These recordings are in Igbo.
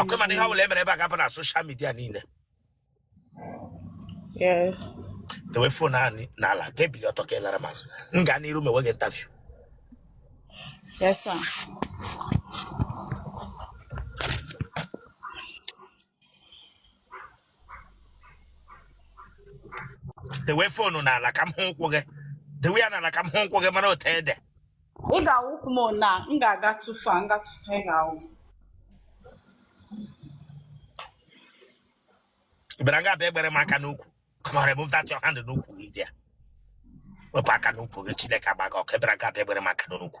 ọkwa ị ma na ihe ọbụla emere ebe a ga-apụ na social media niile dewe fon ahụ ni- n'ala ka i bilie ọtọ ka ị lara m azụ m gaa n'iru mewe gị interview Yes, sir. dewe fonu n'ala ka m hụ ụkwụ gị dewe ya n'ala ka m hụ ụkwụ gị mara otu ede ị ga-awụ m na m ga-aga tụfu a nga tụfu ị bịara nga bịa egbere m aka n'ukwu come on remove that your hand n'ukwu gị bịa wepụ aka n'ukwu gị chineke agba gị ọkụ ị bịara nga bịa egbere m aka n'ukwu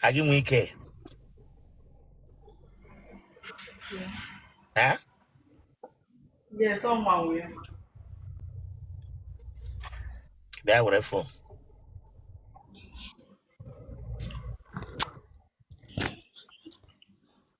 ka gị nwee ike Eh? Yes, ọ manwụ ya. bịa were fon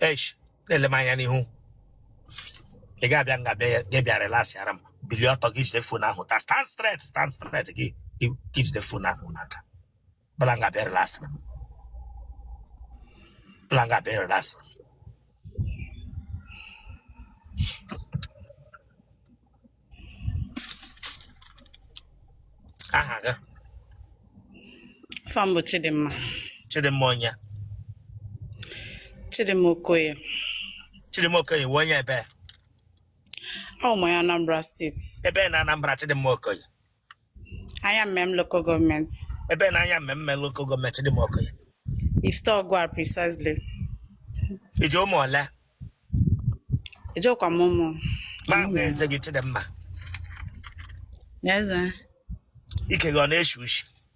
esh na-ele m anya n'ihu ị ga-abịa nga bịa relaxịara m bilie ọtọ gị jide fon ahụ ta stand straight stand straight gị gị gị jide fon ahụ n'aka bịara nga bịa relax bịara nga bịa relax aha gị afa m bụ Chidimma Chidimma onye Chidimma Okoye Chidimma Okoye ị wụ onye ebee awụ m onye Anambra State ebee na Anambra Chidimma Okoye Ayamelum local government. ebee na Ayamelum local government Chidimma Okoye Ifite Ogwari precisely. i ji ụmụ ole Ejikwa m ụmụ. ma m hụ eze gị Chidimma Yes, sir. ike gị ọ na-eshi ushi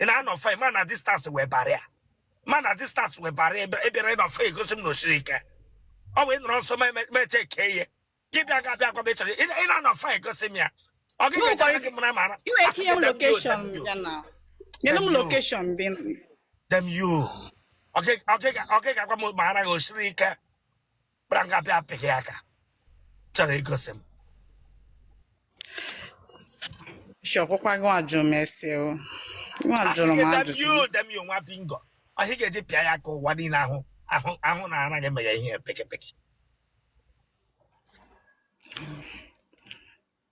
ị na-anọ far mana distance wụ barrier mana distance wụ barrier ebe ị nọ far egosi m na o siri ike ọ wee nọrọ nso ma eme- m checkie ihe gị bịa ga abịa gwa m ịchọrọ ị ị na-anọ far egosi m ya ọ gị No, ga-eche but- gị mara mara You were seeing location, you know. You know location, being. damn you ọ gị ga-agwa m ma ara gị o siri ike bịara nga bịa apịghị ya aka chọrọ igosi m Shọkwụkwa gị ajụ m ese o. Gị ajụrụ m ajụjụ. damn you damn you nwa bingo ọ ihe a ga-eji pịa ya ka ụwa niile ahụ ahụ ahụ na ara gị meghe ihe pekepeke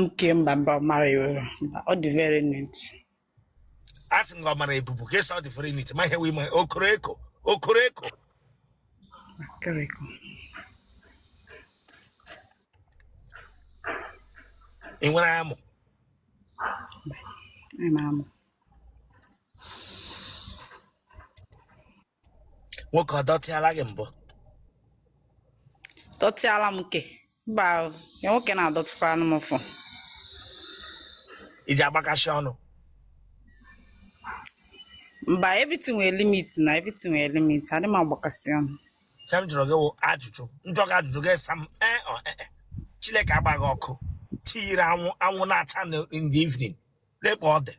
nke mba mba ọ mara iwe mba ọ dị very neat a sị m gị ọ mara ebubu gị asị ọ dị very neat ma ihe wee ma o koro eko o koro eko correct ị nwere amụ anyị mara mma nwoke ọ dọtịala gị mbụ dọtịala m nke mba o, ya nwoke na-adọtịkwa anụ m ụfụ i ji agbakashị ọnụ mba everything nwere limit na everything nwere limit adị m agbakasị ọnụ ihe m jụrụ gị wụ ajụjụ m jụọ gị ajụjụ gị asa m ee ọ ee e. chineke agbaghị ọkụ tiyiri anwụ na-acha na- in the evening lekpa ọ dị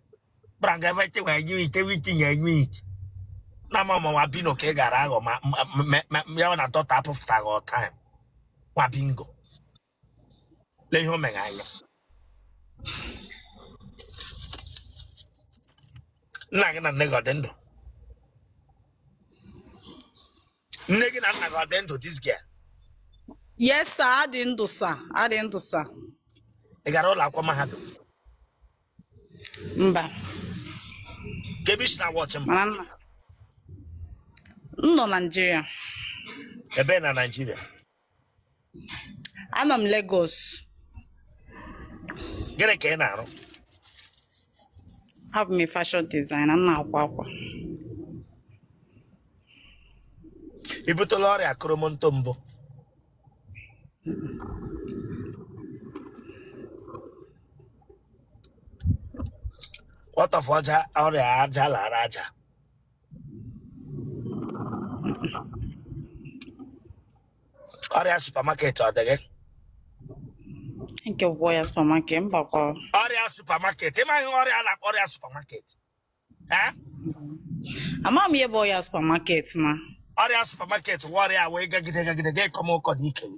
kpara nga ebe chewa enye ite wee tinye enye ite na ama ma nwa bingo ka ị gara aghọ ma ma- ma- ma- ma ya wụ na doctor apụfụtaghị on time nwa bingo lee ihe o mere anya nna gị na nne gị ọ dị ndụ nne gị na nna gị ọ dị ndụ this girl yes sir ha dị ndụ sir ha dị ndụ sir ị gara ụlọ akwụkwọ mahadum mba kee ebe i shi na-awatch m m nọ naijiria ebee na naijiria anọ m Lagos gịnị ka ị na-arụ abụ m fashion designer m na-akwa akwa i butela ọrịa koromonto mbụ what of ọrịa aja lara aja ọrịa supermarket ọ dịghị nke bụ ọya supermarket mbakwa ọrịa supermarket ị maghị ọrịa a na-akpọ ọrịa supermarket ee ama m ihe bụ ọya supermarket na ọrịa supermarket wụ ọrịa wee gagide gagide ga ịkọm ụkọ na ike gị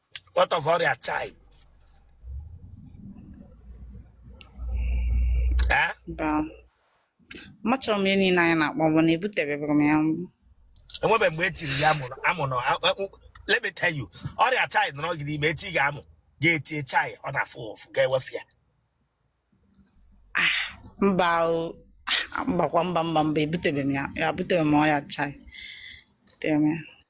what of ọrịa chai Eh? Mba. Amacharọ m ihe niile anyị na-akpọ bụ na ebuteberọ m ya mbụ. enwebe mgbe e tiri gị amụ na- amụ na a- a- u- let me tell you ọrịa chai nọrọ gị n'ime e tie gị amụ gị etie chai ọ na-afụ ụfụ gị ewefu ya Mba o. Ah, Mbakwa mba mba mba ebutebe m ya. Ebutebe m ọya chai. Butere m ya.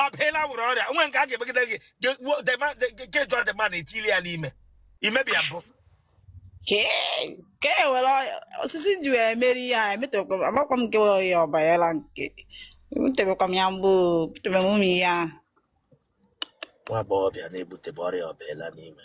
ọ baala wụrụ ọrịa o nwe nke a ga-emegide gị ge- wo- the man- the- ge- ge- jụọ the man i tiile ya n'ime imebi ya bụ Kee- ka e were ọya- osisi ji wee mere ihe a emetebekwa amakwa m nke wụ ọya ọ banyela nke ebutebekwa m ya mbụ ebutebe m ụmụ ihe ahụ nwa agbọghọbịa na-ebutebe ọrịa ọ baala n'ime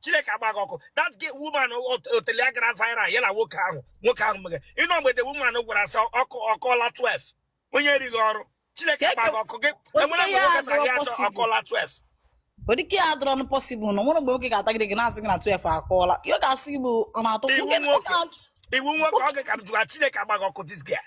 chineke agba gị ọkụ that woman otele ya gara viral ya na nwoke ahụ nwoke ahụ mere ị nụ mgbe the woman gwara sị ọ kụọla 12 onye erighị ọrụ chineke agba gị ọkụ gị e nwere mgbe nwoke tara gị atọ ọ kụọla 12 ọ dịka ya adịrọ nụ possible na e nwere mgbe nwoke ga-atagide gị na-asị gị na 12 akụọla ihe ọ ga-asị gị bụ ọ na-atọ ị wụ nwoke ị wụ nwoke ọ ga-ka jụwa chineke agba gị ọkụ this girl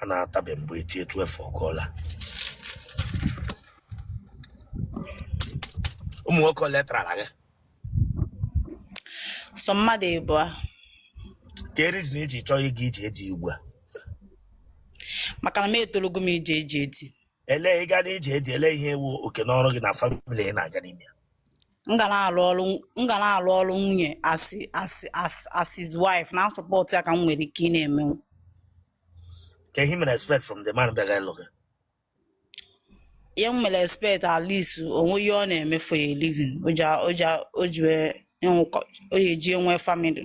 a na-atabe mgbe eti 12 ọ kụọla ụmụ nwoke ole tarala gị sọ mmadụ ịbụa kee reason i ji chọọ ịga ije di ugbu a maka na m etolugo m ije ije di ele ịga n'ije di ele ihe wụ oke na ọrụ gị na family ị na-aga n'ime ya m ga na-alụ ọrụ m ga na-alụ ọrụ nwunye as as as as his wife na-asupport ya ka m nwere ike ị na-eme kee ihe i mere expect from the man bịaga ịlụ gị ihe m mere expect at least o nwee ihe ọ na-eme for a living o ji o ji o ji wee ịnwụkọ o ji eji enwe family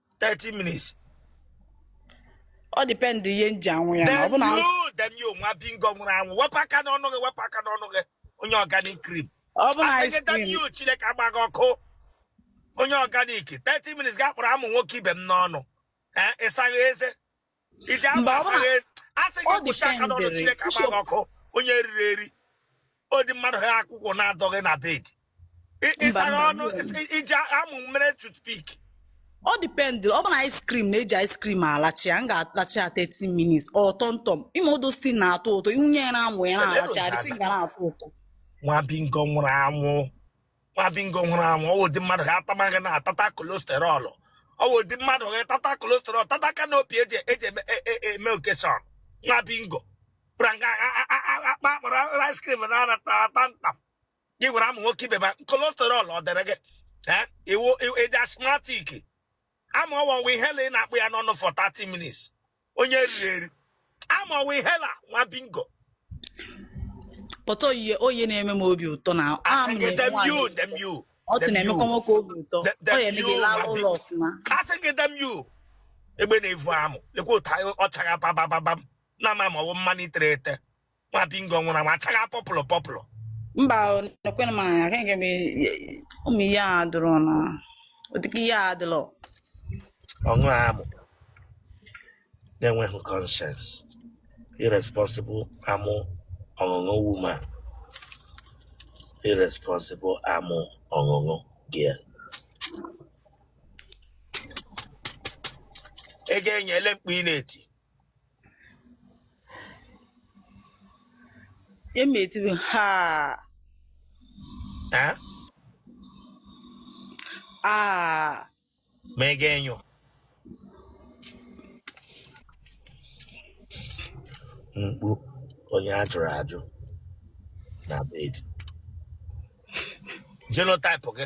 30 minutes ọ dịpendị ihe m ji aṅụ ya na ọ damn bụ na you damn you nwa bingo nwụrụ anwụ wepụ aka n'ọnụ gị wepụ aka n'ọnụ gị onye organic cream ọ bụ na ice asị gị damn cream you chineke agba gị ọkụ onye organic 30 minutes ga-akpụrụ amụ nwoke ibe m n'ọnụ Eh, ịsaghị eze i ji amụ asa gị eze asị gị kwụsị aka n'ọnụ chineke agba gị ọkụ onye eriri eri ụdị mmadụ ha akwụkwọ na-adọghị na bed ịsaghị ọnụ i ji amụ mere toothpick ọ dipendị ọ bụrụ na ice cream na-eji ice cream alacha ya m ga-alacha ya 30 minutes or tomtom ime odo still na-atọ ụtọ ị wụnye ya n'amụ ya na-alacha ya isi ga na-atọ ụtọ nwa bingo nwụrụ anwụ nwa bingo nwụrụ anwụ ọ wụ ụdị mmadụ ga-ata amụ gị na-atata cholesterol ọ wụ ụdị mmadụ ga-atata cholesterol tata canopy eji eji eme- e- e- eme occasion nwa bingo pranga akpa akpara ice cream na anata ata ntam gị were amụ nwoke ibe ma cholesterol ọ dịrị gị ee ị wụ ị wụ- eji asthmatic ama ọwa nwa ihela ị na-akpụ ya n'ọnụ for 30 minutes onye eriri eri ama ọwa ihela nwa bingo pọtọ oyiye oyi na-eme m obi ụtọ na am asị gị na-eme damn you nwaanyị damn you ọtụ damn na-emekwa you nwoke obi ụtọ Dem- ọ damn ya eme gị you, laa ma ụlọ bi- ọfụma asị gị damn you egbe na-evu amụ lekwa otu anyị ọ chagha babababam na a ma ma ọ bụ mmanụ i tere ete nwa bingo nwụrụ anwụ achaga purple purple mba nekwena m anya kenke m ụmụ ihe a dụrụ na ọ dịka ihe a dụrụ ọṅụ amụ na-enweghị conscience irresponsible amụ ọṅụṅụ woman irresponsible amụ ọṅụṅụ girl ego enyele mkpu ị na-eti Emi eti bụ ha. Ha? Ah. Ma ị ga-enyo. Mkpu onye a jụrụ ajụ na bed. Genotype gị.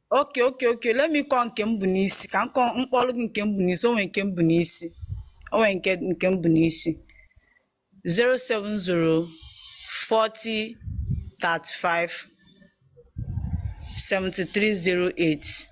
okay okay okay let me call nke m bu n'isi ka m kpọọrọ gị nke m bu n'isi o nwere nke m bu n'isi o nwere nke nke m bu n'isi 070 40 35 7308